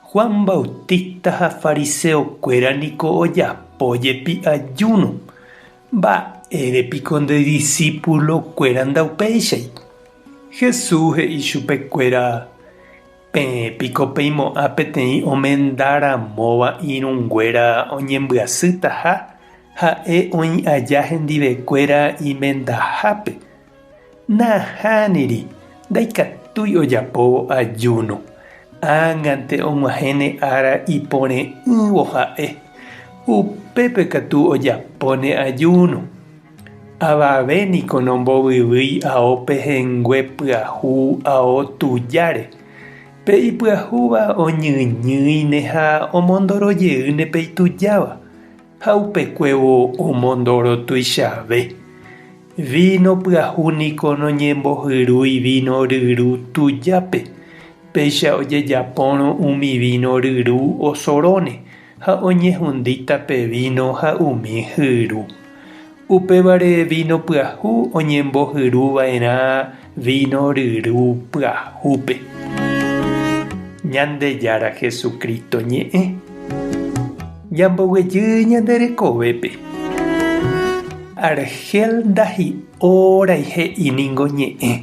Juan Bautista ha fariseokuéra niko ojapo jepi ajúno, mba'ére piko nde disípulokuéra ndaupéichai? Jesús he'i chupekuéra, Peẽ piko peimo'ã peteĩ omenda ramóva irũnguéra oñembyasýtaha ha'e oĩ aja hendivekuéra imendahápe? Nahániri, ndaikatúi ojapóvo ajúno. Ág̃ante og̃uahẽne ára ipore'ỹvo ha'e, upépe katu ojapóne ajúno. Avave niko nombovyvýi ao pehẽngue pyahu ao tujáre. Pe ipyahúva oñyñýine ha omondorojeýne pe itujáva. Ha upekuévo omondoro tuichave. Víno pyahu niko noñembohyrúi víno ryru tujápe, péicha ojejapórõ umi víno ryru osorõne ha oñehundíta pe víno ha umi hyru. Upévare víno pyahu oñembohyru va'erã víno ryru pyahúpe. Ñandejára Jesucristo ñe'ẽ. Ñamboguejy ñande rekovépe. Argel ndahi'órãi he'i ningo ñe'ẽ.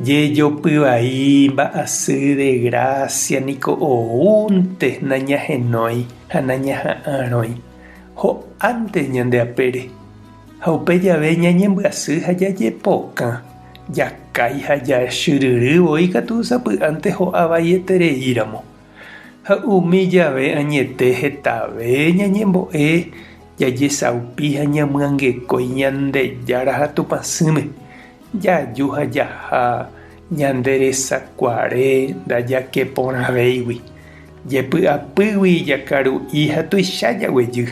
Jejopy vai mba'asy de gracia niko oúnte nañahenói ha nañaha'ãrõi. ho'ánte ñande apére, ha upe jave ñañembyasy ha jajepokã, jakái ha jachyryry voi katu sapy'ánte ho'a vaietereíramo. Ha umi jave añete hetave ñañembo'e jajesaupi ha ñamyangekói Ñandejára ha Tupãsỹme, jaju ha jaha ñande resakuare ndajakeporãvéigui. Jepy'apýgui jakaru'i ha tuicha jaguejy.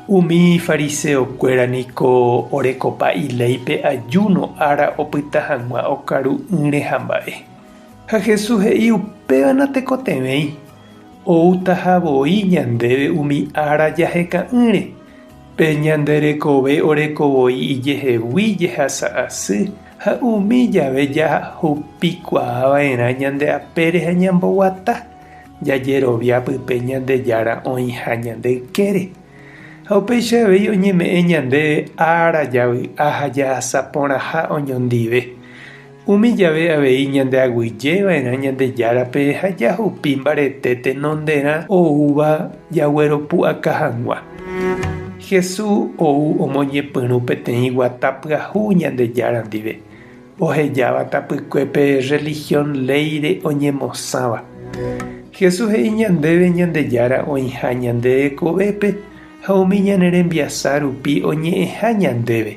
Umi fariseokuéra niko orekopa iléipe ajúno ára opyta hag̃ua okaru'ỹre hamba'e. Ha Jesús he'i upéva natekotevẽi, oútaha voi ñandéve umi ára jaheka'ỹre. Pe ñande rekove oreko voi ijehegui jehasa asy Ha umi jave jahupikuaava'erã ñande apére ha ñamboguata, jajerovia pype Ñandejára oĩha ñande ykére. Ha upéicha avei oñeme'ẽ ñandéve ára javy'a ha jahasa porãha oñondive. Umi jave avei ñande aguyjeva'erã Ñandejárape ha jahupi mbarete tenonderã oúva jagueropu'aka hag̃ua. Jesús ou omoñepyrũ peteĩ guata pyahu Ñandejára ndive, ohejáva tapykuépe rrelihión léire oñemosãva. Jesús he'i ñandéve Ñandejára oĩha ñande rekovépe ha umi ñane rembiasa rupi oñe'ẽha ñandéve,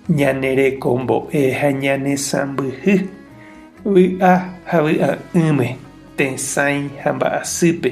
ñane rekombo'e ha ñane sãmbyhy, vy'a ha vy'a'ỹme, tesãi ha mba'asýpe,